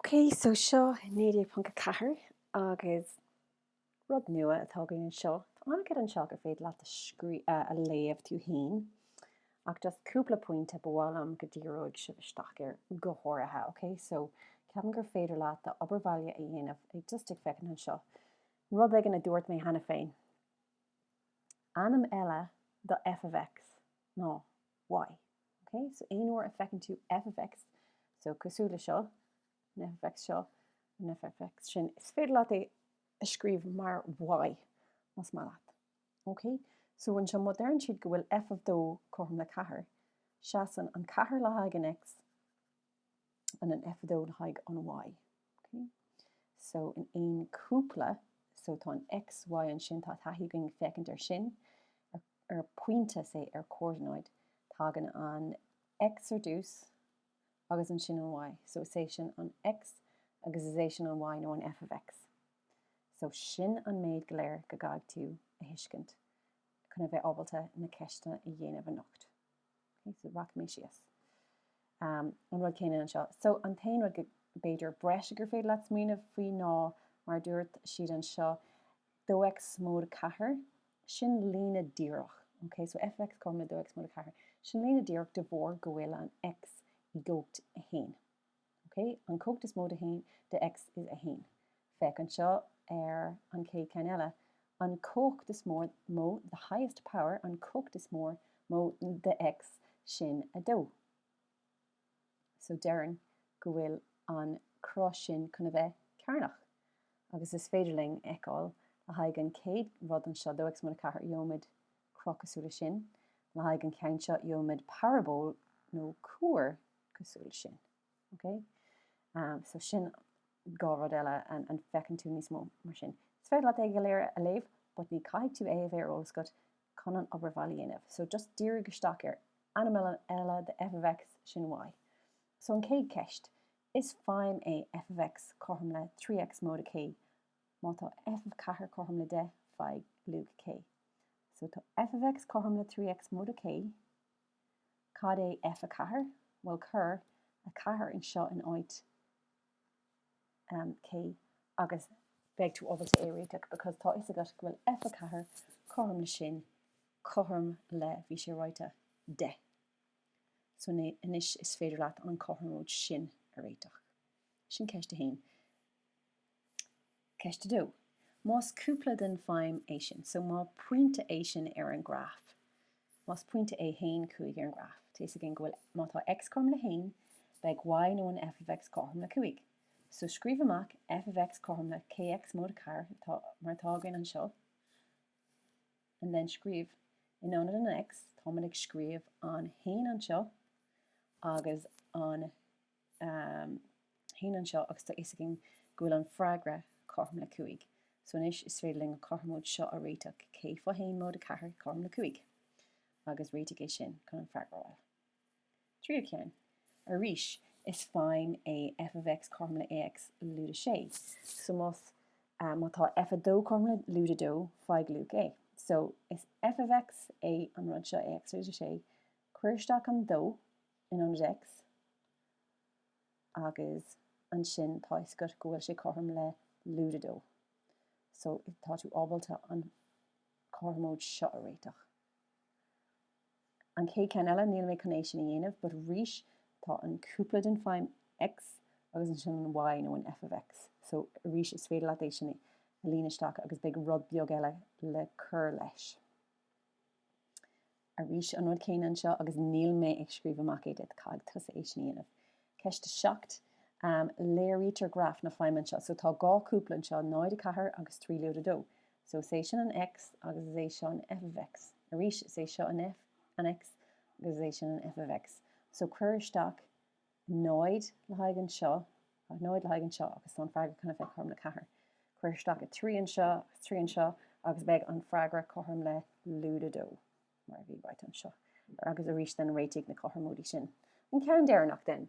Okay, so seo 19.4 agus rud nua atá againn anseo. Tá an-chuid anseo gur féidir leat a léamh tú féin ach just cúpla pointe ba mhaith liom go ndíreodh sibh isteach air go háirithe, okay? So ceapaim gur féidir leat d'obair bhaile a dhéanamh ag just ag féachaint anseo. Rud éigin a dúirt mé cheana féin. Ainm eile do f of x ná. y. Ok, so aon uair a fheiceann tú f of x, so cosúil le seo, an f of x seo, an f of x sin, is féidir leat é a scríobh mar y, más maith leat. Ok, so anseo má deireann siad go bhfuil f of 2 cothrom le 4, seasann an 4 le haghaidh an x, and an f dó le haghaidh an Y. Okay. So in aon cúpla, so tá an X, Y ansin, tá taithí againn féachaint ar sin, ar pointe, say, ar chomhordanáid, tagann an X ar dtús agus ansin an Y. So is é sin an X agus is é sin an Y nó an F of X. So sin an méid go léir go gcaithfidh tú a thuiscint chun a bheith ábalta na ceisteanna a dhéanamh anocht. Ok so rachaidh mé síos um an rud céanna anseo. So an t-aon rud go b'fhéidir breise gur féidir leat smaoineamh faoi ná mar dúirt siad anseo dó x móide 4, sin líne díreach, ok so f of x cothrom le dó x móide 4, sin líne díreach de bharr go bhfuil an x i gcumhacht 1. OK, an chumhacht is mó de haon, de X is a haon. Féach anseo ar an chéad ceann eile, an chumhacht is mór, mó, the highest power, an chumhacht is mór, mó, de X, sin a dó. So déarfainn go bhfuil an cruth sin chun a bheith cearnach. Agus is féidir linn a fheiceáil le haghaidh an chéad rud anseo, dó X móide a ceathair, gheobhaimid, cruth cosúil le sin. Le haghaidh an cheann seo gheobhaimid paraból nó cuar cosúil le sin. Ok? So sin dhá rud eile an bhfeiceann tú níos mó mar sin. Is féidir leat é go léir a léamh, but ní chaithfidh tú é a bheith ar eolas agat chun an obair bhaile a dhéanamh. So just dírígí isteach ar ainm eile de f of X, sin Y. So an chéad cheist, Is feidhm é f of X cothrom le 3 X móide K Má tá f of 4 cothrom le 10, faigh luach K. So tá f of x cothrom le 3x móide K. Cad é F4? Bhuel cuir 4 anseo in áit k agus beidh tú ábalta é a réiteach because tá fhios agat go bhfuil F4 cothrom le sin cothrom le bhí sé ráite 10. So anois is féidir leat an cothromóid sin a réiteach. Sin ceist a haon. Ceist a dó. Más cúpla den feidhm é sin, so más pointe é sin ar an graf, más pointe é haon cúig ar an graf, tá fhios againn go bhfuil, má tá X cothrom le haon, beidh Y nó an F of X cothrom le cúig. So scríobh amach F of X cothrom le Kx móide a ceathair, atá, mar atá againn anseo, and then scríobh, in ionad an X, táimid ag scríobh an haon anseo agus an 1 anseo agus tá fhios againn go bhfuil an freagra cothrom le 5 so anois is féidir linn an cothromóid seo a réiteach, K fá 1 móide 4 cothrom le 5 agus réitigh é sin chun an freagra a fháil. Tríú ceann. Arís is feidhm é f of x cothrom le ax lúide 6 so más ea má tá f 2 cothrom le lúide 2 faigh luach a. So is f of x é an rud seo ax lúide 6, cuir isteach an 2, in ionad X agus ansin tá fhios agat go bhfuil sé cothrom le lúide a dó so tá tú ábalta an cothromóid seo a réiteach. An chéad ceann eile níl mé chun é sin a dhéanamh but arís tá an cúpla den feidhm X agus ansin an Y nó an f of X so arís is féidir leat é sin a líonadh isteach agus beidh rud beag eile le cur leis. arís an rud céanna anseo agus níl mé ag scríobh amach é duit, caithfidh tusa é sin a dhéanamh. Ceist 7, Léirítear graf na feidhme anseo. So tá dhá cúpla anseo, 0, 4 agus 3, lúide 2. So is é sin an X agus is é seo an F of X. Arís, is é seo an F, an X agus is é sin an F of X. So cuir isteach An náid le haghaidh anseo, an náid le haghaidh anseo agus tá an freagra chun a bheith cothrom le ceathair. Cuir isteach a trí anseo agus trí anseo agus beidh an freagra cothrom le lúide a dó, mar a bhí right anseo. Agus arís then réitigh na cothromóidí sin. An ceann deireanach then.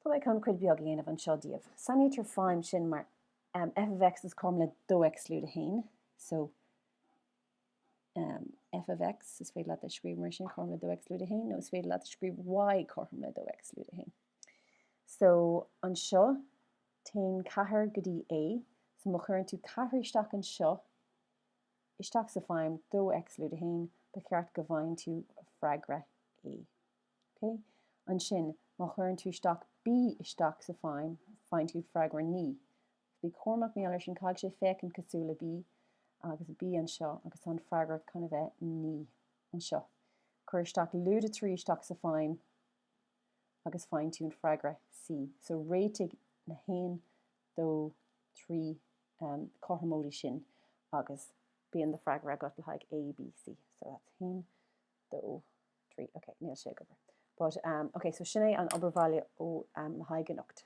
Tá mé ag chun cuid beag a dhéanamh anseo daoibh. Sainítear feidhm sin mar, em, f of x is cothrom le dó x lúide a haon. So. F of X, is féidir leat a scríobh mar sin, cothrom le 2X lúide 1, nó is féidir leat a scríobh Y cothrom le 2X lúide 1. So, anseo, téann ceathair go dtí A, so má chuireann tú ceathair isteach anseo, isteach sa feidhm 2X lúide 1, ba cheart go bhfaigheann tú freagra A. Ok? Ansin, má chuireann tú isteach B isteach sa feidhm, faigheann tú freagra 9. Bí cúramach, má léir sin, caithfidh sé féachaint cosúil le B agus B anseo agus tá an freagra chun a bheith naoi anseo. Cuir isteach lúide trí isteach sa feidhm agus faigheann tú an freagra C. So réitigh na haon, dó, trí cothromóidí sin agus bíonn do freagra agat le haghaidh A, B, C. So that's haon, dó, trí, ok, níl sé ag obair. But, ok, so sin é an obair bhaile ó le haghaidh anocht.